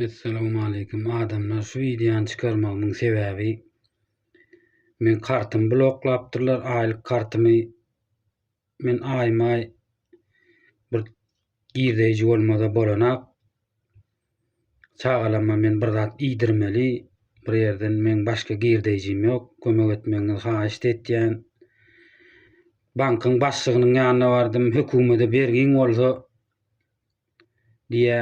Essalamu aleýkum adamlar şu wideony çykarmagymyň sebäbi men kartymy bloklapdyrlar aýlyk kartymy men aýmaý bir girdeýji bolmada bolanak çagalama men bir zat iýdirmeli bir ýerden men başga girdeýjim ýok kömek etmegiňizi haýyşt etýän bankyň başlygynyň ýanyna bardym hökümede bergiň bolsa diýä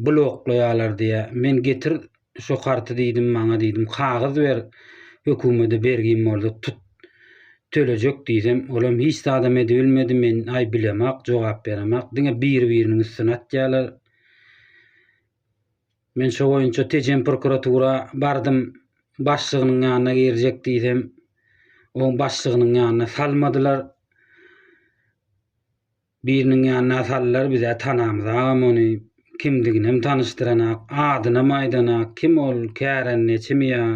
bloklaýalar diýä men getir şo karty diýdim maňa diýdim kagyz ber hökümede bergim boldy tut tölejek diýsem olam hiç zadam edibilmedi men aý bilemak jogap beremak diňe biri biriniň üstüne atýalar men şo boýunça tejen prokuratura bardym başlygynyň ýanyna girjek diýsem oň başlygynyň ýanyna salmadylar Biriniň ýanyna saldylar bizä tanamyz agam ony kimdiginem tanyşdyranak adynam aýdanak kim ol kärendeçimi ýa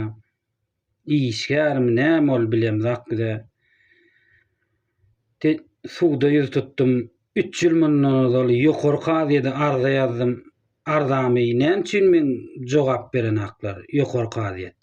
işgärmi näme ol bilemzak bizä te suda ýüz tutdum üç ýyl mundan ozal ýokary kazyýede arza ýazdym arzamy näme üçin meň jogap berenaklar ýokary kazyýet.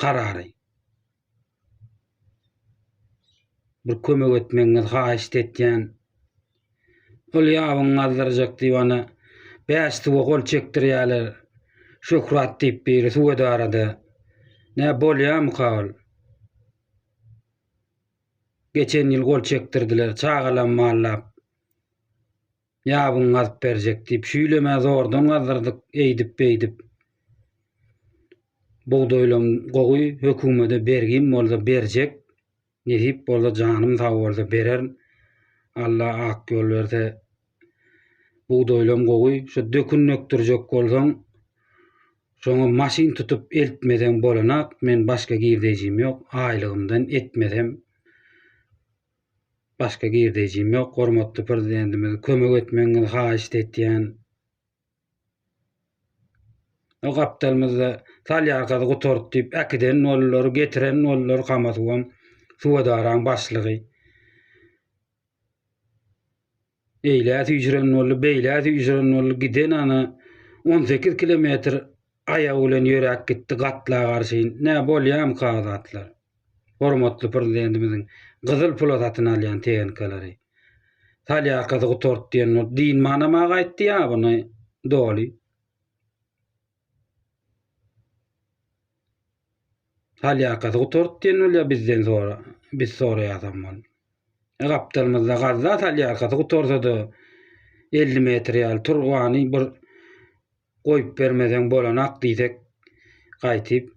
karary. Bir kömek etmegiňizi haýyşt etýän. Ol ýabyň gazdyrjak diýip ana bäş suwa gol çekdirýärler. Şöhrat diýip biri suw edarada. Nä bolýamyka ol? Geçen ýyl gol çekdirdiler, çagalam mallap. ýabyň gazyp berjek diýip şüýlemä zordan gazdyrdyk eýdip-beýdip. Bugdaýlam gowy, hökümede bergim bolsa berjek, nesip bolsa janym sag bolsa bererin. Alla ak ýol berse bugdaýlam gowy, şu dökün dökdürjek bolsaň şoňa maşyn tutup eltmeseň bolanak, men başga girdeýjim ýok, aýlygymdan etmesem. Başga girdeýjim ýok, hormatly Prezidentimize kömek etmegiňizi haýyşt etýän. O gapdalymyzda salýarkasy gutardy diýip äkiden boldular, getiren boldular Kama suwam, suw edaraň başlygy. Eýlä süýjüren boldy, beýlä süýjüren boldy, giden ana on sekiz kilometr aýagy bilen ýöräp gitdi gatlaga garşy. Nä, bolýamyka azatlar? Hormatly Prezidentimiziň gyzyl pula satyn alýan tehnkalary. Solýarkasy gutart diýen bolup, dynmanam-a gaýtdy ýabyny doly. Hal ýakasy gutart diýen bolýar bizden sora, biz soraýasam ol. E gapdalymyzda gazda salýarkasy gutarsa-da 50 metr ýaly turbany bir goýup bermeseň bolanak diýsek gaýtyp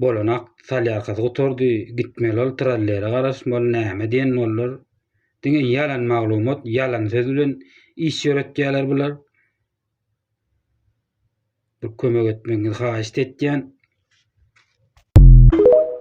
bolanak salýarkasy gutardy gitmeli ol trallere garaşmaly näme diýen bollar diňe ýalan maglumat ýalan söz bilen iş ýöretýärler bular Bir kömek etmegiňizi haýyşt etýän.